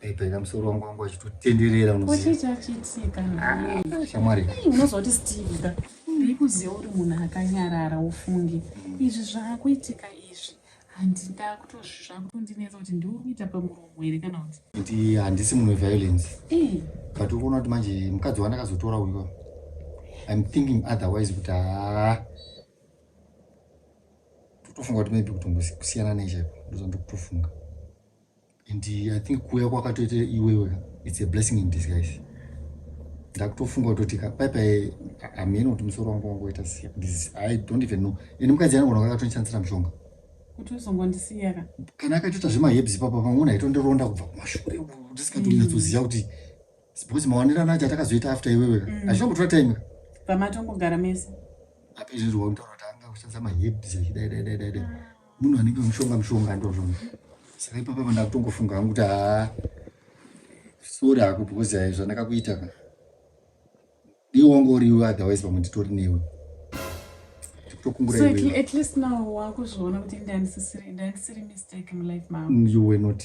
Bhebhena musoro wangu wangu achitotenderera unozivachichachitika ah, shamwari unozoti steve ka ndikuziva uri munhu akanyarara ufunge mm. izvi zvaakuitika izvi handindakutozvakutondinetsa kuti ndiuri kuita pamuromo here kana kuti kuti handisi munhu weviolence eh. but ukuona kuti manje mukadzi wandakazotora uyo im thinking otherwise kuti haa ah, totofunga kuti maybe kutongokusiyana nechaipo ndozvandokutofunga and i think kuuya kwakatoita iwewe its a blessing in disguise ndakutofunga kutoti paipai hameno kuti musoro wangu wangoita this i don't even know and mukadzi anogona kakatonishandisira mushonga kuti uzongondisiyaka kana akaitoita zvemahebs papa pamwona aitondironda kubva kumashure ndisingatonyatsoziva kuti because mawanirana acho atakazoita after iwewe mm. hazvina kutora time pamatongogara mese apezvinzwa kutaura kuti anga kushandisa mahebs zvichidaidaidaidai Munhu anenge mushonga mushonga ndozvona. Saka ipapa vana kutongofunga hangu kuti haa sorry hako because hai zvandakakuita ka. Iwe wangu uriwe otherwise pamwe nditori newe. So at, at least now wakuzviona kuti ndandisiri mistake mulife mangu. You were not.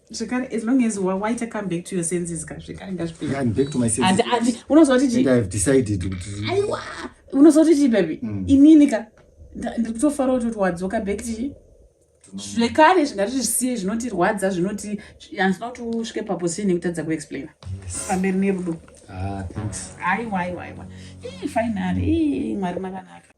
zvekare as long as waita come back to your senses ka zvekare ngazvipeunozooti chii baby mm. inini ka ndiri kutofara kuti wadzoka back tii zvekare zvingati zvisiye zvinotirwadza zvinoti handina kuti usvike paposition yekutadza kuexplaina pamberi nerudo ah, aiwa aiwa aiwa finary mwari makanaka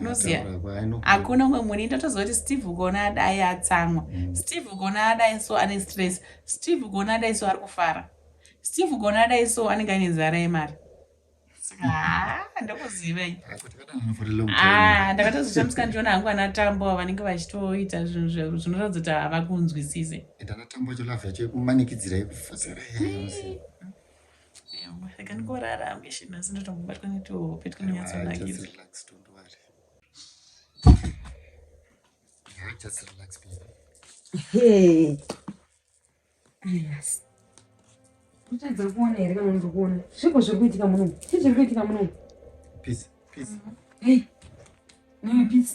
unoziva hakuna umwe muni ndotoziva kuti steve ukaona adai atsamwa mm. steve ukaona adai so ane stress steve ukaona adai so ari kufara steve ukaona adai so anenge aine nzara yemari ndokuzivei ah, ndakatozoshamisa ndiona hangu ana tambo vanenge vachitoita zvinhu zveru zvinoratidza kuti havakunzwisise saka ndikorara ambition asi ndotombobatwa netohope twunonyatsonakidza kutadza kuona here kana ndiri kuona zviko zviri kuitika munomu chii zviri kuitika munomu peace peace hey nimi peace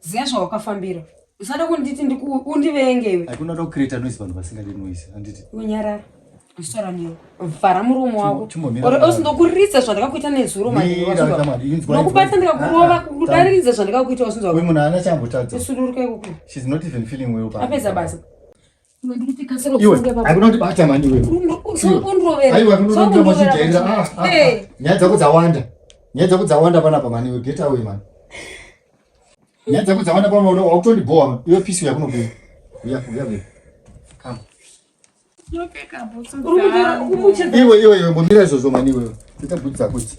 Ziva zvawakafambira. Usada kunditi undivenge iwe. Hakuna kuda kucreate noise vanhu vasingadi noise. Handiti. Unyarara. Usora niyo. Vhara muromo wako. Usindokuridza zvandakakuita nezuro manje. Nokubata ndikakurova kudaridza zvandakakuita usinzwa. Uyu munhu haana chambotadza. Usuduruke kuku. She's not even feeling well. Apedza basa. iwe haikuna kuti bata mani iwe aiwa kunoda kuti machijairira ah, ah, ah. nyaya dzako dzawanda nyaya dzako dzawanda panapa mani iwe get away mani nyaya dzako dzawanda panapa wakutondibowa iwe pisi yakunobuya uya uya uya come iwe iwe iwe mbomira izvozvo mani iwewe ita bhudzi dzako idzi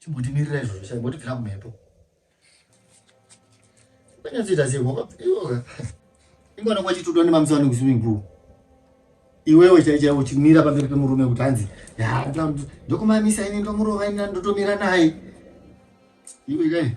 Chimbotimirira izvozvo chai motibvira mumhepo. Kanyatsoita sei ngoba iyoga. Ingona kwachitudwa nemamisa wani kuswimming pool. Iwewe chai chai uchimira pamberi pemurume kuti hanzi ndokumamisa ini ndomurova ini ndotomira naye. Iwe kai.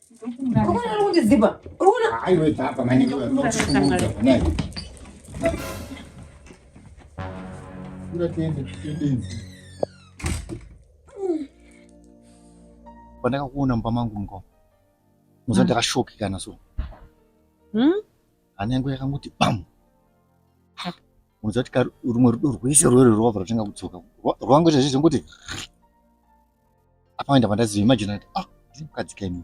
Pandakakuona mumba mangu mukoma muza ndakashoki kana so hmm? hana yangu yakangoti bamu unoziva kuti rumwe rudo rwese rwere rwava rwatanga kudzoka rwangoita zvizvongoti apa waenda pandaziva imagine ati ah ndiri mukadzi kaini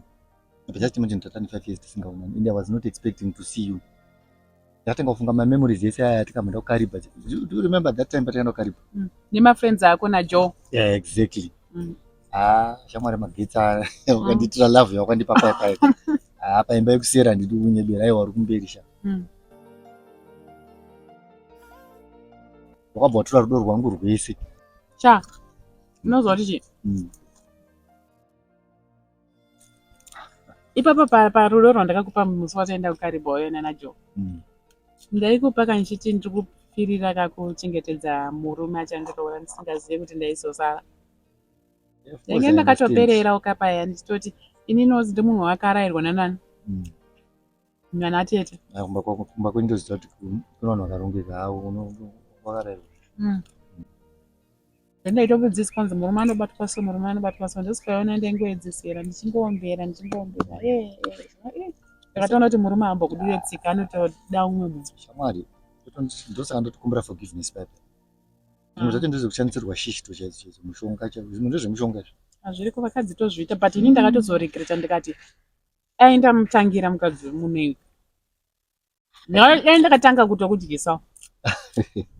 but just imagine tatani five years tisingaonani and i was not expecting to see you ndatanga kufunga mamemories ese aya atikamboenda kukariba do you remember that time patakaenda kukariba mm. nemafriends ako najoe yeah exactly mm. ah shamwari magetsi aya mm. ukandiitira love yawakandipa paya paya ah paimba yekusera handidi kunyebera aiwa uri kumberi sha wakabva watora rudo rwangu rwese sha Unoziva kuti chii? Mm. Ipapa pa parudo rwandakakupa musi wataenda kuKariboyo nana Joe. Mm. Ndaikupa kandichiti ndiri kupfirira kakuchengetedza murume achandiroora ndisingazive kuti ndaizosara. Ndainge ndakatoperera ukapaya ndichitoti ini nozi ndimunhu wakarairwa nanani. Mm. Mwana atete. Ah, kumba kwako kumba kwenyu ndoziva kuti kuna vanhu vakarongeka hawo wakarairwa. Mm. Ndaitobudziswa kunzi murume anobatwa so murume anobatwa so ndosikaona ndaingoedzesera ndichingoombera ndichingoombera. Eh, eh, eh. Ndakatoona kuti murume aambo kudire tsika anotoda umwe munhu. Shamwari ndosaka ndotokumbira forgiveness papi. Zvimwe zvacho ndizvo kushandisirwa shishi to chaidzo chaidzo mushonga chaidzo zvimwe ndezvemushonga izvo. Hazviriko vakadzi tozviita but ini ndakatozoregreta ndikati dai ndamutangira mukadzi wemunhu iwe dai ndakatanga kuto kudyisa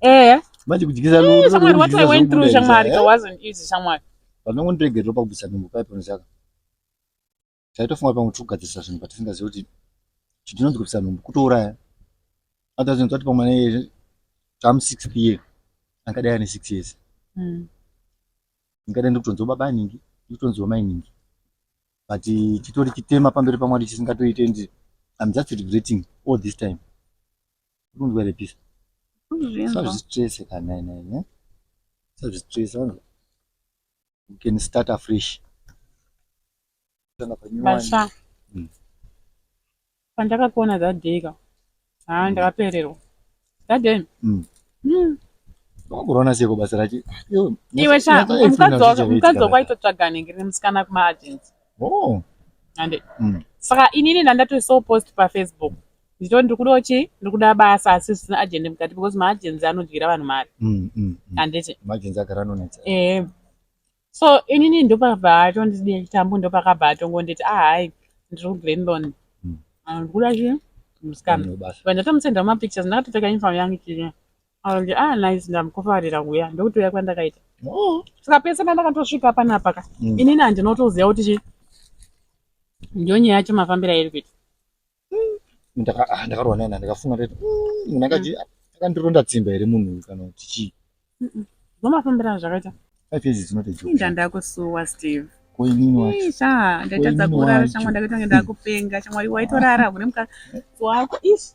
ehe manje kudyisa shamwari what i went through shamwari ka wasn't easy shamwari vanongondiregerero pakubvisa nhumbu paipo nezaka taitofunga pamwe tiri kugadzirisa zvinhu patisingazivi kuti chitinonzi kubvisa nhumbu kutouraya atazinoti ati pamwe neye tam six p ye angadai ane six years ndingadai hmm. ndikutonziwa baba aningi ndikutonziwa mainingi but chitori chitema pamberi pamwari chisingatoite and I'm just regretting all this time kunzwa here pisa sazvistrese kana nene sazvistrese wanzwa you can start afresh Basha. Mm. Pandakakuona that day ka. Haa mm. ndakapererwa. That day. Mm. Mm. Wakurona seko basa racho. Iwe sha mukadzi wako mukadzi wako aitotsvaga nenge nemusikana kuma agents. Oh. Ande. Mm. Saka inini ndandati so post pa Facebook. Ndito ndiri kuda chi ndiri kuda basa asi zvisina agent mukati because ma agents anodyira vanhu mari. Mm. Mm. mm. Anditi. Ma agents agara anonetsa. Eh. so inini ndopabva atondidii chitambu ndopakabva atongonditi ahai ndiri kuglenlon hmm. ah, ndikuda chi musikana but ndatomusenda mumapictures ndakatopfeka uniform yangu chii akange ah nice ndamukofarira kuya ndokutouya kwandakaita oh. saka pese pandakatosvika panapa ka hmm. inini handinotoziva kuti chi ndiyo nyaya yacho mafambiro airi kuita mm, ah, ndakarwa naye ndakafunga ndati mm, munhu akaji mm. akandironda tsimba here munhu uyu kana kuti chii zvomafambirana zvakaita five years is not a joke ndandakusuwa steve koinini wacho isha ndaitadza kurara shamwari ndakaita kunge ndakupenga shamwari waitorara hune mukadzi wako ish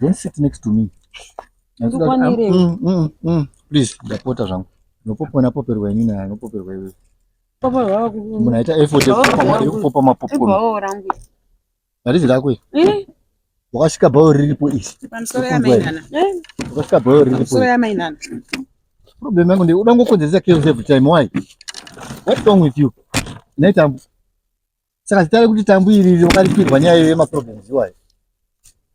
Don't sit next to me. Ndikwanire. Mm, mm, mm. Please, ndapota zvangu. Nopopona poperwa ini naye, nopoperwa iwe. Papa wako. Munaita effort yekupopa mapopcorn. Ibawo rangu. Harizi rako iri. Eh. Wakasvika bhayo riripo iri. Pamusoro yamainana. Eh. Wakasvika bhayo riripo. Pamusoro yamainana. Problem yangu ndeye uda ngokonzeresa chaos every time why? What wrong with you? Nei tambu. Saka zita rekuti tambu iri riri wakaripirwa nyaya yema problems iwayo.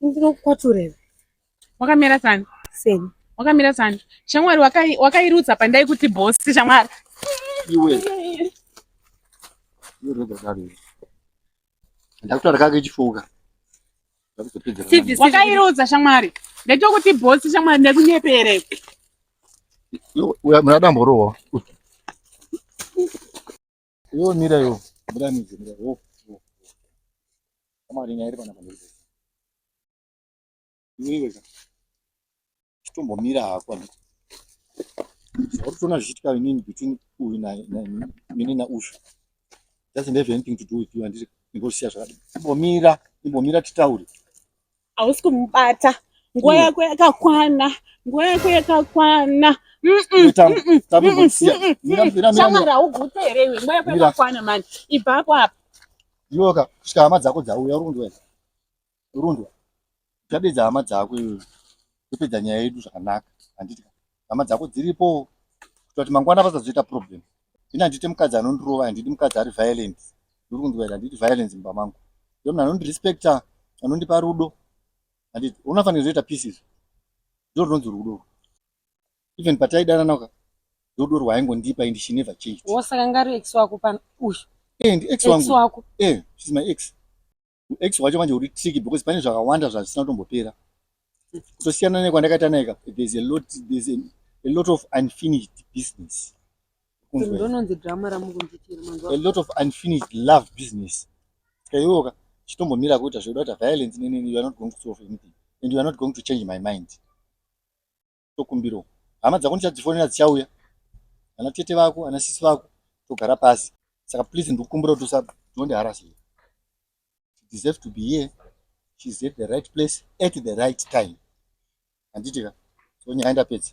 ndinokukwaturei wakamira sani seni wakamira sani shamwari wakairutsa wakai pandai kuti bhosi shamwari iwe ndakutaura kake chifuka wakairudza shamwari ndaitwa kuti bhosi shamwari ndekunyepere muna damborowa yo mira yo mira midzi mira yo shamwari nyaya iri panapa Zvireka. Chitombomira hako handiti. Zvakutona zvichiitika inini between uyu na mine na Ushu. Doesn't have anything to do with you handiti. Ndingosiya zvakadini. Imbomira, imbomira titaure. Hausi kumubata. Nguva mm. yako yakakwana. Nguva yako yakakwana. Shamara haugute here iwe. Nguva yako yakakwana mani. Ibva apo apa. Iwoka, kusvika hama dzako dzauya uri kundiwena. Rundwa, uchadedza hama dzako iwewe topedza nyaya yedu zvakanaka handiti ka hama dzako dziripo kuita kuti mangwana pasazoita problem ini handiti mukadzi anondirova handiti mukadzi ari violent ndiri kunzwaira handiti violence mumba mangu iyo munhu anondirespecta anondipa rudo handiti unofanira kuzoita peace izvo ndo rinonzi rudo even pataidananaka rudo rwaingondipa and she never changed wosaka ngari ex wako pano uyu eh, ndi ex wangu eh, she's my ex ex wacho manje uri tricky because pane zvakawanda zvazvisina kutombopera kutosiyana nekwandakaita naye ka there's a lot there's a, a lot of unfinished business Kunzwei? ndononzi drama ramukundiitira manzwa a lot of unfinished love business kaiwoka chitombomira kuita zvekuda kuita violence nenini you are not going to solve anything and you are not going to change my mind tokumbirawo hama dzako ndichadzifonera dzichauya ana tete vako ana sisi vako togara pasi saka please ndikukumbira kuti usatonde harasi deserve to be here she's at the right place at the right time handiti ka so nyaya ndapedza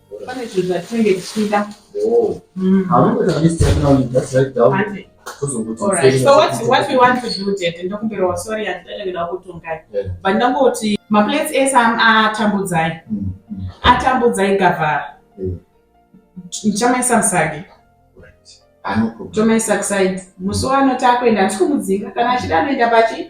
Pane zvinhu zvatinenge tichida. Oh. Mm. Haungoita this time now, you just write down. Hande. Tozongoita All right. same So what thing. what we want to do tete ndokumbirawo sorry handidada kuda kutongai. Yeah. But ndangoti maplates ese am- atambudzai. Mm, mm, Atambudzai gavhara. mm. Ndichamaisa musagi. Right. Ah, no problem. Tomaisa kuside. Musi wano takuenda handisi kumudzinga kana achida anoenda pachi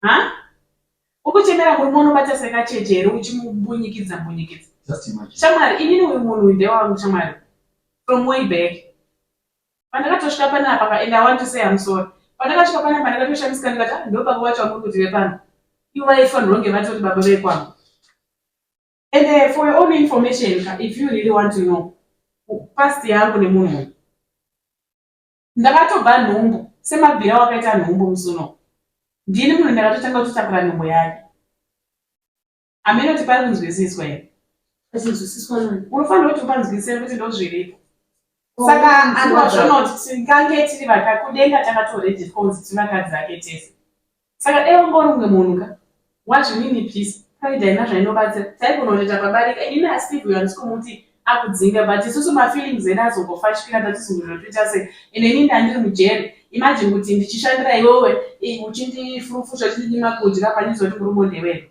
ha ukuchemera murume unobata sekacheche here uchimumbunyikidza mbunyikidza shamwari inini uyu munhu uyu ndewangu shamwari from way back pandakatosvika panapa ka and i want to say am sorry pandakasvika panapa ndakatoshamisika ndikati ah, ndo baba vacho vamuri kuti vepano ivo vaifanirwa kunge vatori baba vekwangu and uh, for your own information if you really want to know past yangu nemunhu Ndakatobva nhumbu semabvira wakaita nhumbu musi unowu. Ndini munhu ndakatotanga kutotakura nhumbu yake. Hameno kuti pari kunzwisiswa here? Pachinzwisiswa nani? Unofanira kuti upanzwisise kuti ndozviripo. Saka Oh, anova zvinova- zvonoti tingange tiri vaka kudenga takatorejiswa kunzi tiri vakadzi vake tese. Saka dai wanga uri umwe munhu ka. Wazvinini please. Pride haina zvainobatsira. Taigona kutoita pabarika ini na Steve uyo handisi kumuti akudzinga but isusu ma feelings edu azongofashikira tatizungurira toita sei and ini ndandiri mujeri imagine kuti ndichishandira iwewe uchindifurufusha uchindidima kudya panizoti murume ndewewe